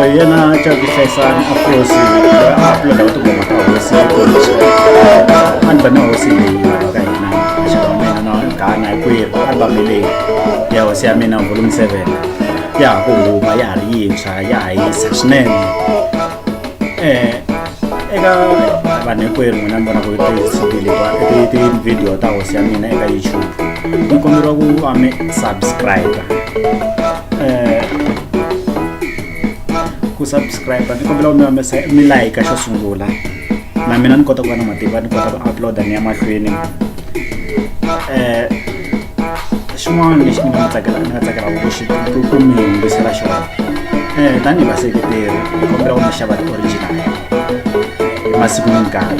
yena xa ku hlayisana a kosi a pulana u tikuma ka hosi a ni va na hosi leyi lava ka hina xaka mina na gana hi kwihi albame leyi ya hosi ya mina volume seven ya ha ku huma ya ha ri yintshwa ya ha yisa swinene um eka vanhu hinkwerhu n'wina mi vonaka ti-cd ti-video ta hosi ya mina eka youtube mi komberiwa ku va mi subscribe eh, ku subscribe ni kombela u mi humesa mi like xo sungula na mina ni kota ku va na matimba ni kota ku uploada ni ya mahlweni eh, xin'wana lexi ni nga tsakela ni nga tsakelaka ku xi ku mi yingisela xona um tanihi vaseketeri ni kombela ku mi xava ti-original hi masiku ni nkarhi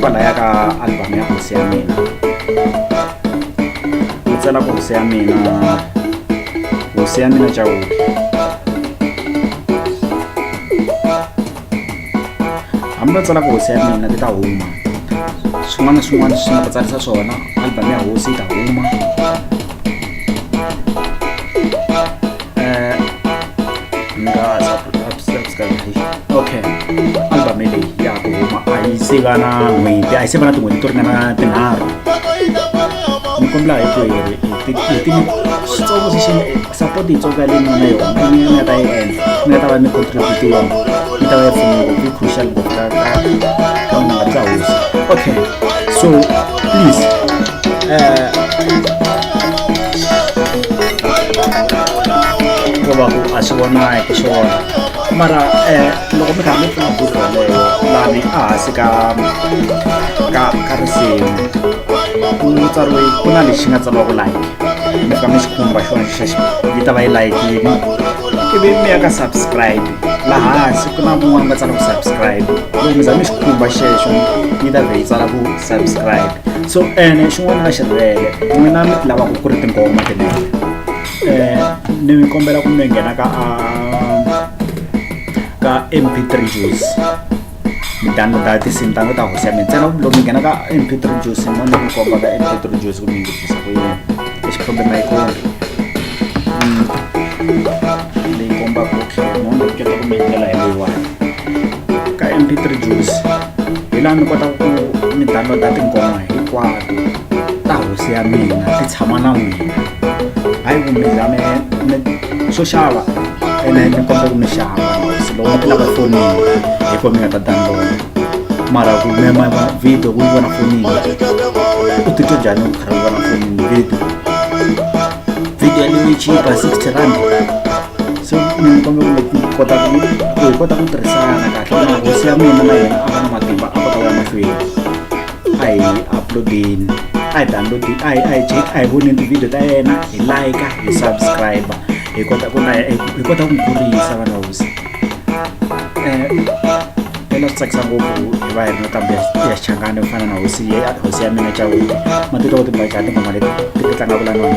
kwala ya ka album ya hosi ya mina ni tsala ku hosi ya mina hosi ya mina chawuti hambi va tsala ku hosi ya mina ti ta huma swin'wana na swin'wana swi nga ta tsarisa swona album ya hosi yi ta huma Eh, okay albame leyi ya ku huma a yi se va na n'hweti a yi se va na tin'hweti to ringana tinharhu ni kombela hi ku switsongo swi support yitsonga leyi nona yona ni nga ta yi endla ni nga ta va ni contribute yona ni ta va yi pfunile ku crucial book ka ka ka n'wananga bya hosi okay so please Eh, ko va ku a swi vonaki swona mara um loko mi karhi mi pfuna buku yaleyo lani ehansi ka ka ka risimu ku tsariwe ku na lexi nga tsariwaku like mi fika mi xi khumba xona xexo yi ta va yi layikini ivi mi ya ka subscribe laha hansi ku na kun'wana va tsala ku subscribe loko mi za mi xi khumba xexo yi ta vhe yi tsala ku subscribe so ene xin'wana na xi rivele n'wina mi ti lavaka ku ri tinghoma tinene um ni mi kombela ku mi nghena ka a ka mp three juice mi downloada tinsimu ta ta hosi ya mi ntsena loko mi nghena ka mp three juice mo ni mi komba ka mp three juice ku mi ngitisa ku yini lexi problem a yi kombi leyi kombaka ku tlhela mo ni keta ku mi endlela hi leyiwani ka mp3 juice hi laha mi kotaka ku mi downloada tinghoma hinkwato ta hosi ya mina ti tshama na n'wina hayi ku mi za mi swo xava ene mi kota ku mi xava hosi loko mi ti lava fonini hi ko mi nga ta downloada mara ku mema video ku yi vona fonini u titwa njhani ku khara ku vona fonini video video ya leyi chipa 60 rand se mi kombela ku leti kota ku ku hi kota ku tirhisana kahle na hosi ya mina na yena a va na matimba a va ka ya mahlweni a hi uploadeni a hi download a hi a hi check a hi voneni tivhidiyo ta yena hi like hi subscribe hi kota ku na hi kota ku kurisa vana hosi um ela swi tsakisa ngopfu hi va hi ri na kambe ya xichangani ku fana na hosi ya hosi ya mina chawuti matitwa ku timbajani tinghoma leti ti tlangaka la nona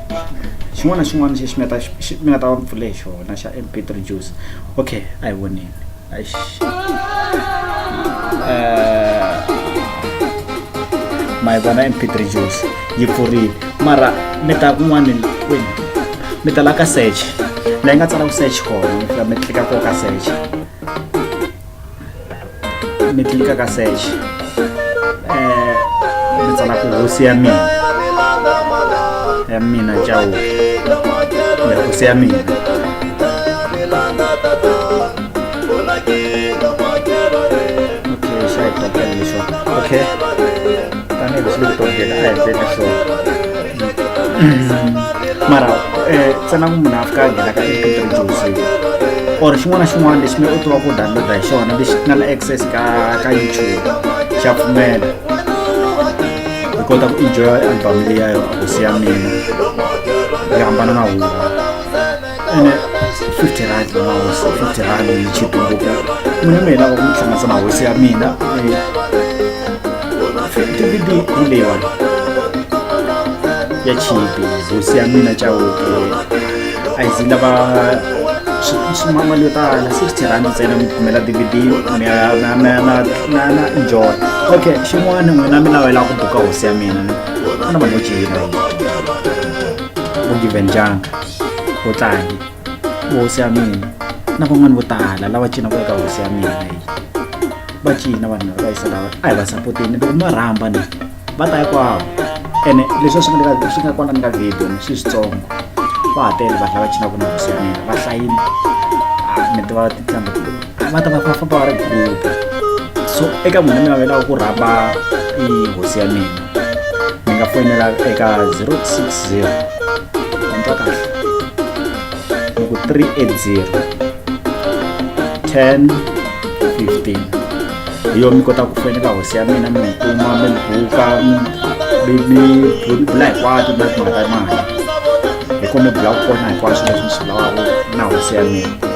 xin'wana na xin'wana lexi mi nga ta xi mi nga ta va mi pfule hi xona xa MP three juice okay a hi voneni Eish. Eh, ma yi vona MP three juice yi pfurile mara mi ta kun'wani kwini mi ta la ka search la yi nga tsala ku search kona mi fika mi tlika ko ka search mi tlilika ka sexe um mi tsala ku hosi ya mina ya mina cawuke hosi ya mina okay, sure. Okay. Tani, let's look at the mara eh, tsena ku munhu a fika a nghena ka computer jozi or xin'wana na xin'wana lexi mi u tiva ku downloada hi xona lexi nga na access ka ka youtube xa pfumela hi kota ku enjoya album leyi ya yona ku siya mina yi hambana na huwa ene fifty rand va mahosi fifty rand yi chipi ngopfu mina mi hi lava ku mi tshungisa mahosi ya mina fifty bibi hi leyiwani ya chipi hosi ya mina chauke a yi zi lava mali yo tala sixty rand ntsena mi kumela dvd na enjoy okay xin'wana n'wina mi lawela ku buka hosi ya mina ku na vanhu vo cina ku givenjanga u tlange hosi ya mina na van'wani vo tala lava cinaka eka hosi ya mina yi va cina vanhu lava va yisa lava a hi va sapoteni loko ma rhamba ni va ta hikwavo ene leswi a swi nga le ka swi nga kona ni ka video ni swi switsongo va ha tele vanhu lava cinaka na hosi ya mina va hlayini ni tiva tintambo va ta va va famba va ri group so eka munhu mina va lava ku rhamba i hosi ya mina mi nga foyinela eka 060 antwa kahle loko 380 10 15 hi yo mi kota ku foyinela hosi ya mina mi mi kuma mi mi buka mi bula hinkwato na timhaka ta mali hi ko mi bula ku kona hinkwaswo leswi mi swi lavaka na hosi ya mina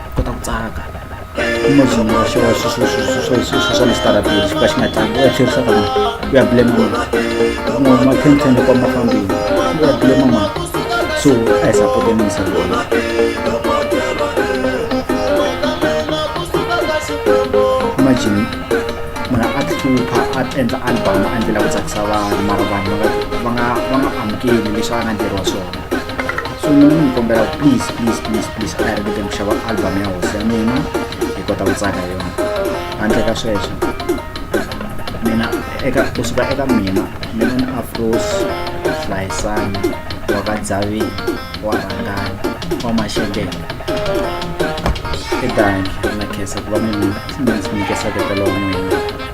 kota ku tsaka imagine wa xewa swa mistarabili xi ka xi nga tlangi u ya tlherisa ka mani u ya blema mani un'wana ma khentlhen loko ma fambile u ya blema mani so a hi sapote minisa lona imagine munhu a tihlupha a endla album a ndlela ku tsakisa vanhu mara vanhu va nga va nga amukeli leswi a nga ndleriwa swona so mina mi kombela please please please please a hi ringeteni ku xava album ya hosi ya mina hi kota ku tsaka yona handle ka sweswo mina eka kusuka eka mina mina ni afros hlayisani wa ka dzavini wa rhangani wa maxekeni i danki na khesa ku va mi mi ndzi nyikesaka talowa n'wina